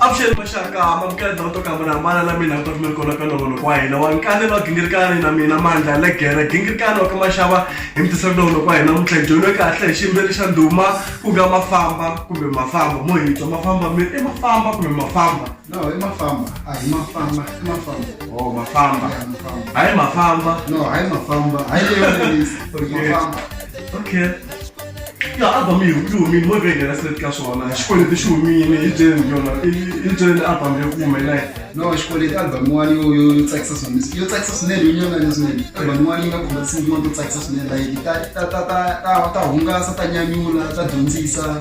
avuxeni maxaka mabukenda va to kamba na hambana na mina ta kumeri kona ka nongonoko wa hina wa nkane va gingirikani na mina mandla legere gingirikani wa ka maxava hi mitisaka nongonoko wa hina muntlha dyonwe kahle hi xiyimbeleri xa ndhuma ku nga mafamba kumbe mafamba mo hitwa mafamba miri i mafamba kumbe mafamba No, hi mafamba. Ah, hi mafamba. Hi mafamba. Oh, mafamba. Yeah, mafamba. Hayi mafamba. No, hayi mafamba. Hayi leyo release. Okay. Mafamba. Okay. Ya album yi yi humile mo vhengela seti ka swona xikweleti xi humile hi jeni yona hi jeni album yo kuma hi nayi no xikweleti album yin'wana yo yo yo tsakisa swinene yo tsakisa swinene yo nyanganya swinene album yin'wana yi nga khoma tinsimu tin'wana to tsakisa swinene like ta ta ta ta ta hungasa ta nyanyula ta dyondzisa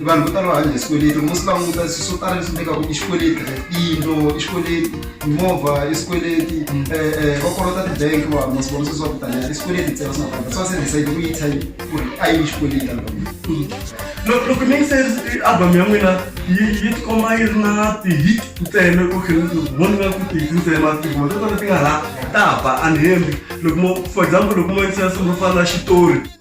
vanhu vo tala va hanya hi swikweleti loko swi languta swi swo tala leswi nyikaku i xikweleti tiyindlo i xikweleti mimovha i swikweleti um va kolota ti-bank vanhu masiku lama sweswi va kutana i swikweleti ntsena swi nga fana swa se decide ku yi type ku ri a yi xikweleti album loko loko mi se album ya n'wina yi yi tikomba yi ri na ti-hit ntsena ku vona nga ku ti-hit ntsena matikuma to tala ti nga ha ta ba unhembi loko mo for example loko mo yingisela silo ro fana na xitori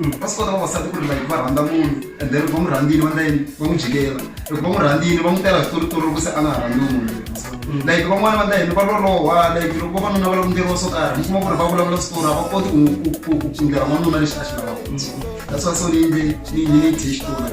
Mm, va swi kota vavasati ku ri like va rhandza munhu and then va n'wi rhandzini va ndlayini va n'wi jikela loko va n'wi rhandzini va n'wi tela switoritori loko se a nga ha rhandzi munhu mm. like van'wana va ndlayini va loloha like loko vavanuna va languteliwa swo karhi mi kuma ku ri va vulavula switori a va koti ku pfundela n'wanuna lexi a xi lavaka mm. that's why so ni yimbe ni ni ni thexi tori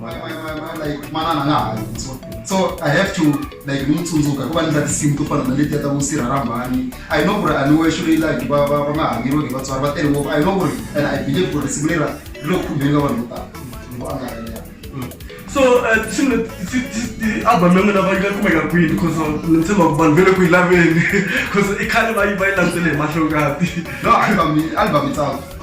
my, my, my, my, like manana nga ha yini so so i have to like ni n'wi tsundzuka hikuva ni ndla tinsimu to fana na letiya ta vusirha rhambani i know ku ri a ni wexo leyi like va va va nga hanyeriweki hi vatswari va tele ngopfu i know ku ri and i believe ku ri risimu lera ri le ku khumbeni ka vanhu vo tala loko a nga ha yena so eh, tinsimu leti- ti- ti- ti- album ya n'wina va yi nga kumeka kwini because ni tshemba ku vanhu ve le ku yi laveni because i khale va yi va yi landzele hi mahlongati no album album itself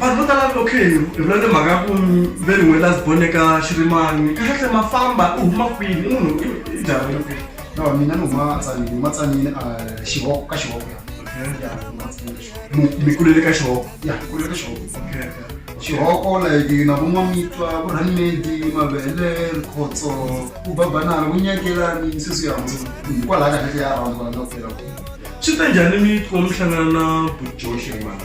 vanhu vo tala loko hi vula ni mhaka ku ve ri n'we last born eka xirimani kahlekahle ma famba u huma kwini i munhu i jarhele kwini no mina ni huma tsanini huma tsanini a xihoko ka xihoko ya ya huma tsanini ka xihoko Mu- mi kulele ka xihoko ya kulele ka xihoko xihoko like na vun'wamitwa vurhanimedi mavele rikhotso ku babanana vunyakelani sweswi ya hansi hikwalaho kahlekahle ya rhandza kwala na ku fela swi ta njhani mi kuma mi hlangana na bujoxe mani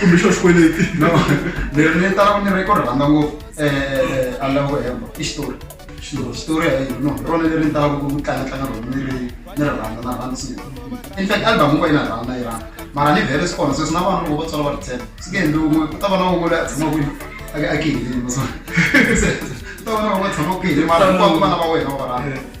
kumbe xo xikweleti no ni ni tala ku ni ri ku ri rhandza ngopfu um alavo hemba i xitori xitori xitori hi no hi rona leri ni talaka ku tlanga tlanga rona ni ri ni ri rhandza na rhandza swilo in fact album un'we yi na rhandza na yi rhandza mara ni vhele swi kona sweswi na vana loko va tswala va ri tshela swi nge endli un'we ku ta va na un'we loyi a tshamaka kwini a a kihilini ku ta va na un'we a tshamaka kihilini mara hinkwavo vana va wena va va rhandza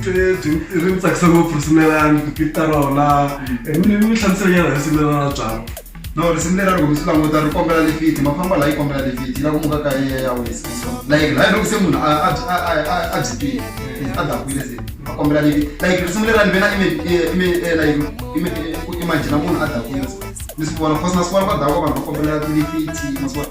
byi ri ni tsakisa ngopfu risimu lerani ku tlita rona ni ni hlamusela nyana risimu lerana byalo no risimu lera loko mi swi languta ri kombela lifiti ma famba laha yi kombela lifiti yi la ku muka ka yi ya wisa so like laha loko se munhu a a a a a jipile a dakwile se a kombela lifiti like risimu lera ni ve na ime ime like ime ku imagine munhu a dakwile ni swi vona cause masiku lawa va dawa vanhu va kombela tilifiti masiku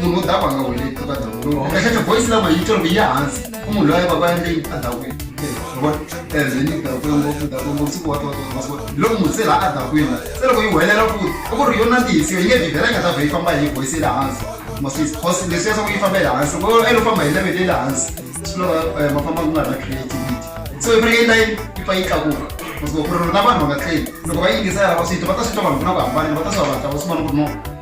munhu u dava nga wele eka ndhawu munhu ehleketa voice language yi tolo yi hansi ku munhu loyi baba yende yi adawini ezini dakwini ngopfu dakwini ngopfu siku wata wata masiku loko munhu se laha adakwini se loko yi huwelela futi i ku ri yo nandzihisiwe yi nge vhivhela yi nga ta vhe yi famba hi voice le hansi maswisi cause leswi yaswaku yi famba le hansi loko e lo famba hi level le le hansi swi loko eh, ma famba ku nga ri na creativity so i fanekele line yi pfa yi tlakuka masiku ku ri na vanhu va nga tleli loko va yingisa yalava swi twa va ta swi twa vanhu ku na ku hambana va ta swi va vatla va swi vona ku ri no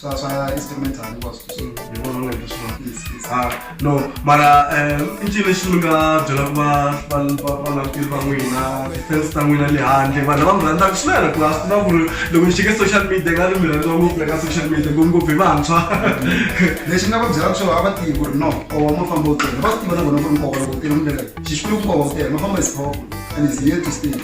swa swa instrumental hinkwaswo leswi. Hi vona onge leswi va- Yes, yes. Ah, no mara eh, i ncini lexi mi nga byelaka va va- va- valanguteri va n'wina tifensi ta n'wina le handle vanhu lava mi rhandzaka swinene ku a swi tiva ku ri loko ni xike social media nga ri mi rhandziwa ngopfu le ka social media ngopfungopfu hi vantshwa lexi nga va byelaka swona a va tivi ku ri no nkova ma famba wu tele va swi tiva na vona ku ri nkova loko wu tele mundlela xixikulu nkova wu tele ma famba is powerful and is here to stay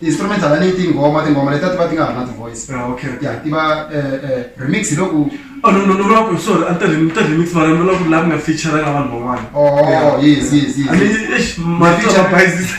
instrumental a ni yi tinghoma tinghoma leti a ti va ti nga ha ri na ti-voice Ah, okay, okay. ya ti va eh, eh, remix hi loku Oh, no, no, no, no, no, sorry, a ni ta rem- ni ta remix mara ni vula ku laha mi nga featuranga vanhu van'wana. Oh, Yeah. yes, yes, yes. I mean, eish, marito feature- ma bayizisa.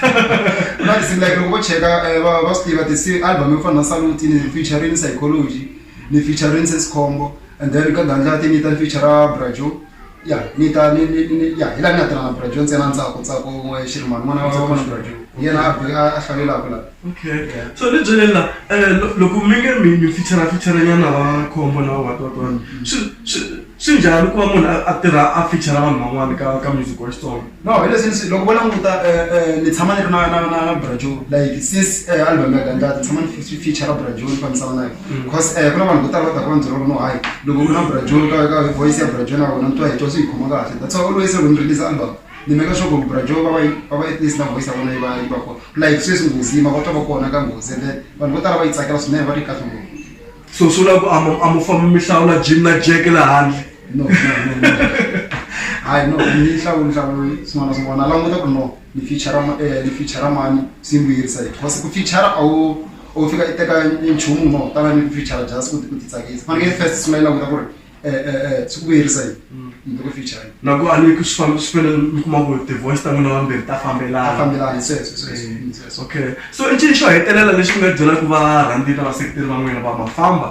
ku na tinsimu like loko vo cheka eh, va va swi tiva tisi album yo fana na saluti ni featuring psychology ni featuring sesikhombo and then ka gandlati ni ta ni feature brajo ya ni ta ni ni ni ni- ya hi la ni nga tirha na brajo ntsena ntsako ntsako n'we xirimani n'wana wa Ntsako wa Brajo. yena a bi- a a hlalelaka la okay Yeah. so ni byele la eh, lo- loko mi nge mi mi fichara fichara nyana va khombo na what what what swi swi swi njhani ku va munhu a a tirha a fichara vanhu van'wana ka ka music wa xitsonga No hi leswi ni swi loko vo languta ni tshama ni ri na na na na Brother Joe like since album ya Gandlati ni tshama ni fi feature-ra Brother Joe ni fambisana na yona cause ku na vanhu vo tala va taka va ni byela ku no hayi loko u ri na Brother Joe ka ka voice ya Brother Joe na wena ni twa hi twa swi hi khoma kahle that's why always loko ni release album ni make sure ku Brother Joe va va yi va va at least na voice ya vona yi va yi va kona like sweswi Nghozi yi mavonelo va kona ka Nghozi and then vanhu vo tala va yi tsakela swinene va ri kahle ngopfu. so swi vula ku a mo- a mo famba mi hlawula jim na jack la handle no no, no, no. hayi no ni hlawuli hlawuli swin'wana na swin'wana languta ku no ni feature ma- eh, ni feature mani swi ni vuyerisa yini because ku feature a wu a wu fika i teka nchumu no tala ni ku feature just ku ti- ku titsakisa fanekele first sungula yi languta ku ri eh, eh, eh, swi ku vuyerisa yini Mm. in the future yini loko a ni ku swi famba swi fanele mi kuma ku tivoice ta n'wina vambirhi ta a fambelana fambelani sweswo sweswo Eh, mm, sweswo okay so i ncini xo hetelela lexi mi nga byelaka varhandzini na vaseketeri va n'wina va mafamba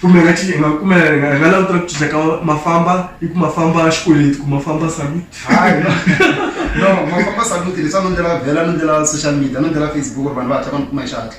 kumbe nga cinci nga kumbe hi nga hi nga langutela ku cinca ka mafamba i ku mafamba xikweleti ku mafamba salut hayi no mafamba saluti leswi a no ndlela vhela no ndlela social media no ndlela facebook ri vanhu va hatla va ni kuma hi xihatla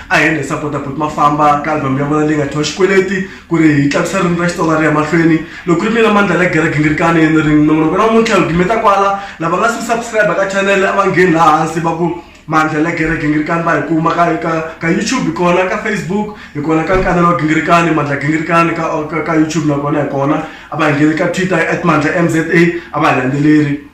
a hi ri sapota buti ma famba ka album ya vona leyi nga thiwa xikweleti ku ri hi tlakusa ririmi ra xitsonga ri ya mahlweni loko ku ri mina mandla la gera gingirikani ni ri nongonoko na muntlha hi gimeta kwala lava nga si subscribe ka channel a va ngheni laha hansi va ku mandla la gera gingirikani va hi kuma ka ka ka youtube hi kona ka facebook hi kona ka nkanelo wa gingirikani mandla gingirikani ka ka youtube nakona hi kona a va hi ngheni ka twitter at mandla m z a a va hi landzeleri